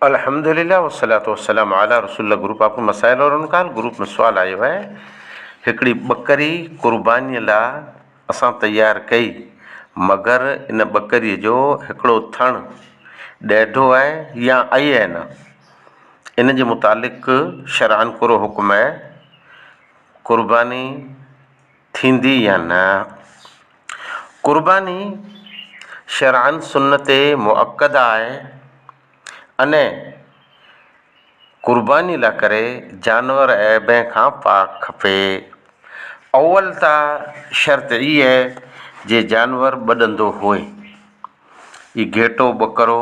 الحمد لله والصلوة والسلام علی رسول الله گروپ آپ ڪي مسائل اور ان کا حل گروپ ۾ سوال آيو آهي هڪڙي ٻڪري قرباني لا اسان تيار ڪئي مگر ان ٻڪري جو هڪڙو ٿڻ ڏيڍو آهي يا اي اين ان جي متعلق شرعاً ڪھڙو حڪم آهي قرباني ٿيندي يا نه. قرباني شرعن سنت مؤڪده آهي ان قرباني لاء ڪري جانور عيبين کان پاڪ کپي. اول ته شرط اي اهي جي جانور ٻڏندو هئي. اي گهيٽو، ٻڪرو،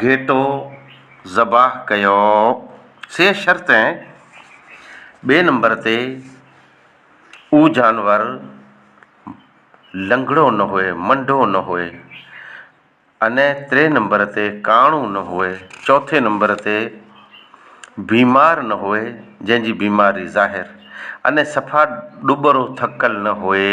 گهيٽو ذبح ڪيو. سي شرط ۽ ٻئي نمبر تي اهو جانور لنگڙو نه هئي، منڊو نه هئي ۽ ٽئين نمبر تي ڪاڻو نه هئي، چوٿين نمبر تي بيمار نه هئي جنهن جي بيماري ظاهر ۽ صفا ڏٻرو ٿڪل نه هئي.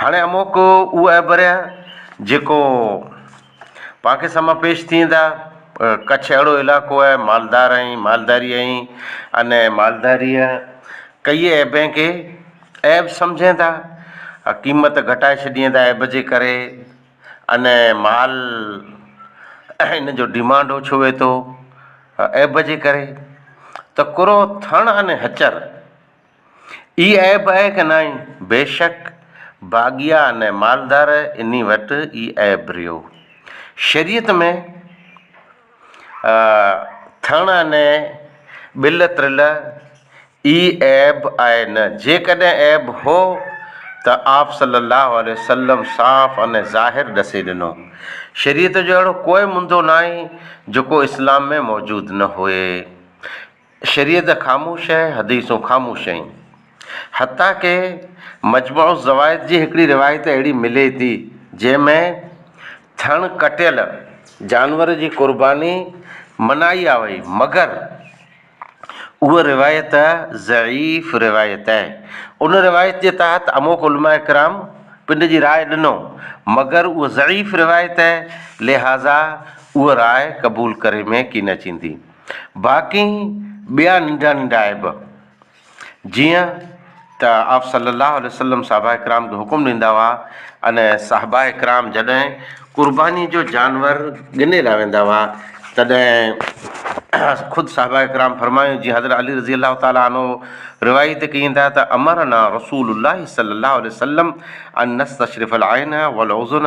هاڻي اموڪ اهي اڀريا جيڪو پاڪ سامهان پيش ٿين ٿا. ڪڇ اهڙو علائقو آهي مالدار ۽ مالداري ۽ ان مالداريء ڪيئي عيبين کي عيب سمجهين ٿا ۽ قيمت گهٽائي ڇڏين ٿا عيب جي ڪري ان مال ان جو ڊيمانڊ اوڇو وي ٿو عيب جي ڪري ته ڪرو ٿڻ ان هچر. ئي عيب آهي ڪه ناهي؟ بيشڪ باغيا نه مالدار انهي وٽ ئي عيب رهيو. شريعت ۾ ٿڻ انهي ٻل ترل ئي عيب آهي نه جيڪڏهن عيب هو ته آپ صلّي اللّٰه عليه وسلّم صاف انهي ظاهر ڏسي ڏنو. شريعت جو اهڙو ڪوئي منڌو ناهي جيڪو اسلام ۾ موجود نه هئي. شريعت خاموش ۽ حديثون خاموش ۽ حتيٰ ڪي مجمع الزوائد جي هڪڙي روايت اهڙي ملي ٿي جنهن ۾ ٿڻ ڪٽيل جانور جي قرباني منعي آهي مگر اها روايت ضعيف روايت آهي ان روايت جي تحت اموڪ علماء ڪرام پنڊ جي راء ڏنو مگر اها ضعيف روايت آهي لهٰذا اها راء قبول ڪري ۾ ڪين اچيندي. باقي ٻيا ننڍا ننڍا عيب جيئن ته آپ صلّي اللّٰه عليه وسلّم صحابه ڪرام کي حڪم ڏيندا هئا ان صحابه ڪرام جڏهن قرباني جو جانور ڳني لاء ويندا هئا تڏهن خود صحابه ڪرام فرمايو جيئن حضرت علي رضي اللّٰه تعالٰي عنه روايت ڪين ٿا ته امرنا رسول اللّٰه صلّي اللّٰه عليه وسلّم ان نستشرف العين والاذن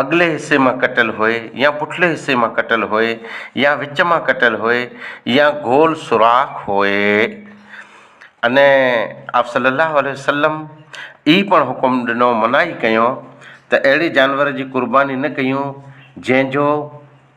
اڳلي حصي مان ڪٽيل هئي يا پٺلي حصي مان ڪٽيل هئي يا وچ مان ڪٽيل هئي يا گول سوراخ هئي اني آپ صلّي اللّٰه عليه وسلّم ئي پڻ حڪم ڏنو منعي ڪيو ته اهڙي جانور جي قرباني نه ڪيون جنهن جو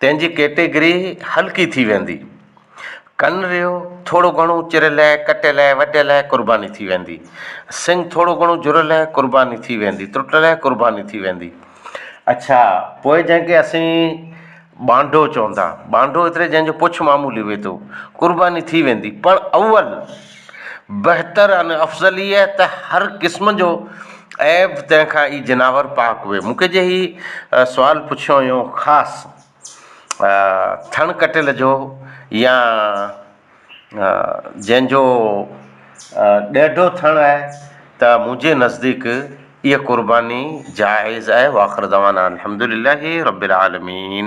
تنهن جي ڪيٽيگري هلڪي ٿي ويندي. ڪن ريو ٿورو گهڻو چر لئه، ڪٽ لئه، وڍ لئه قرباني ٿي ويندي. سنگ ٿورو گهڻو جر لئه قرباني ٿي ويندي، ترٽ لئه قرباني ٿي ويندي. اڇا پوء جنهن کي اسين ٻانڍو چون ٿا، ٻانڍو ايتري جنهن جو پڇ معمولي هئي ٿو، قرباني ٿي ويندي. پر اول. بهتر ان افضل هيء ته هر قسم جو عيب تنهن کان ئي جناور پاڪ هئي. مون کي جنهن هي سوال پڇيو هيو خاص ٿڻ ڪٽيل جو يا جنهن جو ڏيڍو ٿڻ آهي ته منهنجي نزديڪ اها قرباني جائز آهي واخر دعوانا ان الحمدلله رب العالمين.